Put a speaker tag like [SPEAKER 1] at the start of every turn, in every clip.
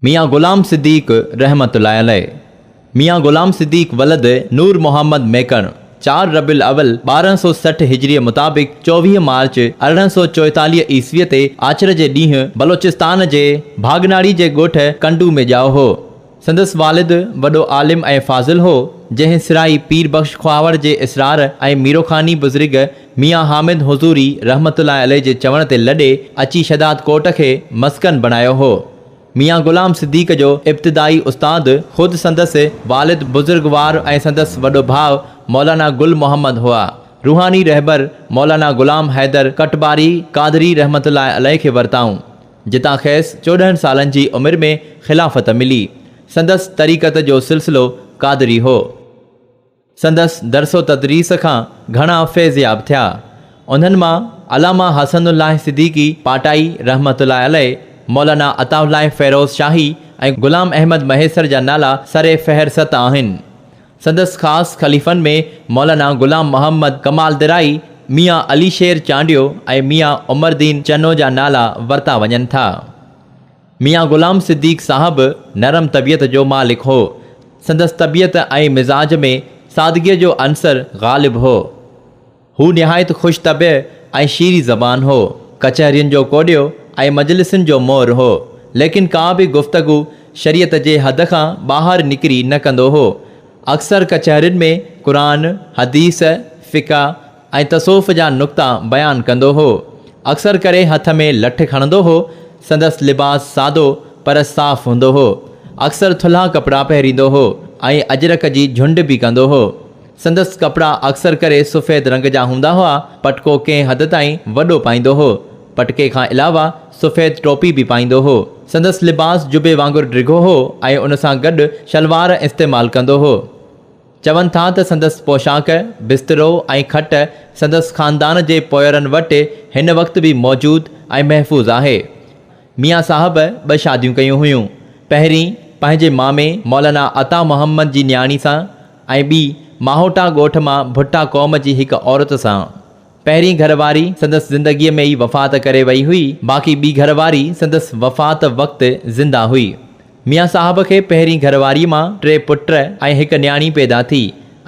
[SPEAKER 1] ميان غلام صديق رحمة الله عليه، ميان غلام صديق ولد نور محمد ميڪڻ، چار ربيع الاول ٻارهن سؤ سٺ هجريء مطابق چوويهه مارچ ارڙهن سؤ چوئيتاليهه عيسويء تي آچر جي ڏينهن بلوچستان جي ڀاڳناڙي جي ڳوٺ ڪنڊو ۾ ڄائو هو. سندس والد وڏو عالم ۽ فاضل هو، جنهن سرائي پير بخش خواهوڙ جي اسرار ۽ ميروخاني بزرگ ميان حامد حضوري رحمة الله عليه جي چوڻ تي لڏي اچي شھداد ڪوٽ کي مسڪن بڻايو ھو. ميان غلام صديق جو ابتدائي استاد خود سندس والد بزرگوار ۽ سندس وڏو ڀاء مولانا گل محمد ھئا. روحاني رھبر مولانا غلام حيدر ڪٽباري قادري رحمة الله عليه کي ورتائون. جتان کيس چوڏهن سالن جي عمر ۾ خلافت ملي. سندس طريقت جو سلسلو قادري ھو. سندس درس و تدريس کان گهڻا فيضياب ٿيا. انهن مان علامه حسن الله صديقي پاٽائي رحمة الله عليه، مولانا عطاء الله فيروز شاهي ۽ غلام احمد مهيسر جا نالا سر فهرست آهن. سندس خاص خليفن ۾ مولانا غلام محمد ڪمال درائي، ميان علي شير چانڊيو ۽ ميان عمر دين چنو جا نالا ورتا وڃن ٿا. ميان غلام صديق صاحب نرم طبيعت جو مالڪ هو. سندس طبيعت ۽ مزاج ۾ سادگيء جو عنصر غالب هو. هو نهايت خوش طبع ۽ شيري زبان هو. ڪچهرين جو ڪوڏيو ۽ مجلسن جو مور هو. ليڪن ڪا به گفتگو شريعت جي حد کان ٻاهر نڪري نه ڪندو هو. اڪثر ڪچهرين ۾ قرآن، حديث، فقه، ۽ تصوف جا نقطا بيان ڪندو هو. اڪثر ڪري هٿ ۾ لٺ کڻندو هو. سندس لباس سادو پر صاف هوندو هو. اڪثر ٿلها ڪپڙا پهريندو هو ۽ اجرڪ جي جهنڊ به ڪندو هو. سندس ڪپڙا اڪثر ڪري سفيد رنگ جا هوندا هئا. پٽڪو ڪنهن حد تائين وڏو پائيندو هو. پٽڪي کان علاوه سفيد ٽوپي به پائيندو هو. سندس لباس جبي وانگر ڊگهو هو ۽ ان سان گڏ شلوار استعمال ڪندو هو. چون ٿا ته سندس پوشاڪ، بسترو ۽ کٽ سندس خاندان جي پوئرن وٽ هن وقت به موجود ۽ محفوظ آهي. ميان صاحب ٻه شاديون ڪيون هيون، پهرين پنهنجي مامي مولانا عطا محمد جي نياڻي سان ۽ ٻي ماهوٽا ڳوٺ مان ڀٽا قوم جي هڪ عورت سان. پهرين گهر واري سندس زندگيء ۾ ئي وفات ڪري وئي هئي، باقي ٻي گهر واري سندس وفات وقت زنده هئي. ميان صاحب کي پهرين گهر واريء مان ٽي پٽ ۽ هڪ نياڻي پيدا ٿي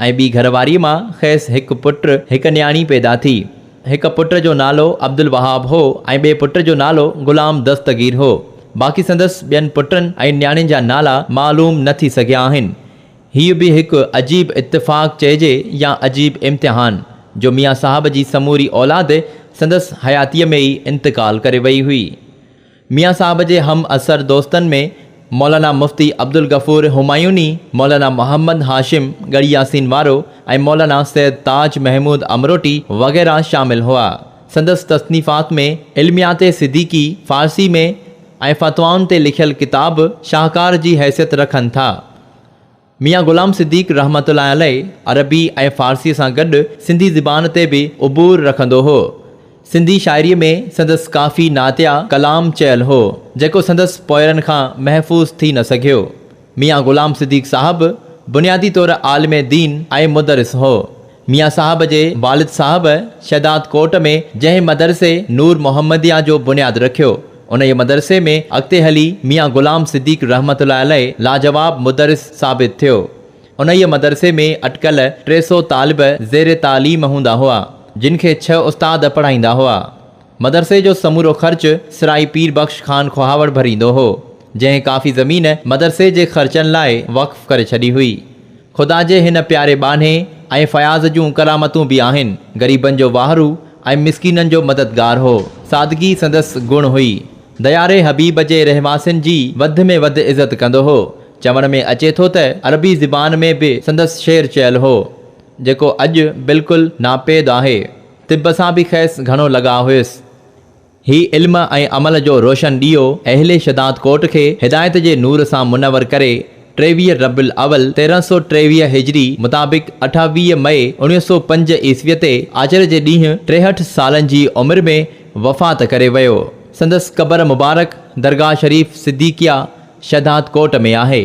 [SPEAKER 1] ۽ ٻي گهر واريء مان کيس هڪ پٽ، هڪ نياڻي پيدا ٿي. هڪ پٽ جو نالو عبدالوهاب هو ۽ ٻئي پٽ جو نالو غلام دستگير هو. باقي سندس ٻين پٽن ۽ نياڻين جا نالا معلوم نه ٿي سگهيا آهن. هيء به هڪ عجيب اتفاق چئجي يا عجيب امتحان، جو ميان صاحب جي سموري اولاد سندس حياتيء ۾ ئي انتقال ڪري ويئي هئي. ميان صاحب جي هم عصر دوستن ۾ مولانا مفتي عبدالغفور همايوني، مولانا محمد هاشم ڳڙهي ياسين وارو ۽ مولانا سيد تاج محمود امروٽي وغيره شامل هئا. سندس تصنيفات ۾ علميات صديقي، فارسي ۾، ۽ فتوائن تي لکيل ڪتاب شاهڪار جي حيثيت رکن ٿا. ميان غلام صديق رحمة الله عليه عربي ۽ فارسيء سان گڏ سنڌي زبان تي به عبور رکندو هو. سنڌي شاعريء ۾ سندس ڪافي نعتيه ڪلام چيل هو، جيڪو سندس پوئرن کان محفوظ ٿي نه سگهيو. ميان غلام صديق صاحب بنيادي طور عالم دين ۽ مدرس هو. ميان صاحب جي والد صاحب شھداد ڪوٽ ۾ جنهن مدرسي نور محمديه جو بنياد رکيو، انهيء مدرسي ۾ اڳتي هلي ميان غلام صديق رحمة الله عليه لاجواب مدرس ثابت ٿيو. انهيء مدرسي ۾ اٽڪل ٽي سؤ طالب زير تعليم هوندا هئا، جن کي ڇهه استاد پڙهائيندا هئا. مدرسي جو سمورو خرچ سرائي پير بخش خان کوهاوڙ ڀريندو هو، جنهن ڪافي زمين مدرسي جي خرچن لاء وقف ڪري ڇڏي هئي. خدا جي هن پياري ٻانهي ۽ فياض جون ڪرامتون به آهن، غريبن جو واهرو ۽ مسڪينن جو مددگار هو. سادگي سندس گڻ هئي. دياري حبيب جي رهواسين جي وڌ ۾ وڌ عزت ڪندو هو. چوڻ ۾ اچي ٿو ته عربي زبان ۾ به سندس شعر چيل هو، جيڪو اڄ بلڪل ناپيد آهي. طب سان به کيس گهڻو لڳاء هيس. هي علم ۽ عمل جو روشن ڏيئو اهل شھداد ڪوٽ کي هدايت جي نور سان منور ڪري ٽيويهه ربيع الاول تيرهن سؤ ٽيويهه هجري مطابق اٺاويهه مئي اوڻيهه سؤ پنج عيسوي تي آچر جي ڏينهن ٽيهٺ سالن جي عمر ۾ وفات ڪري ويو. سندس قبر مبارڪ درگاهه شريف صديقيه شھداد ڪوٽ ۾ آهي.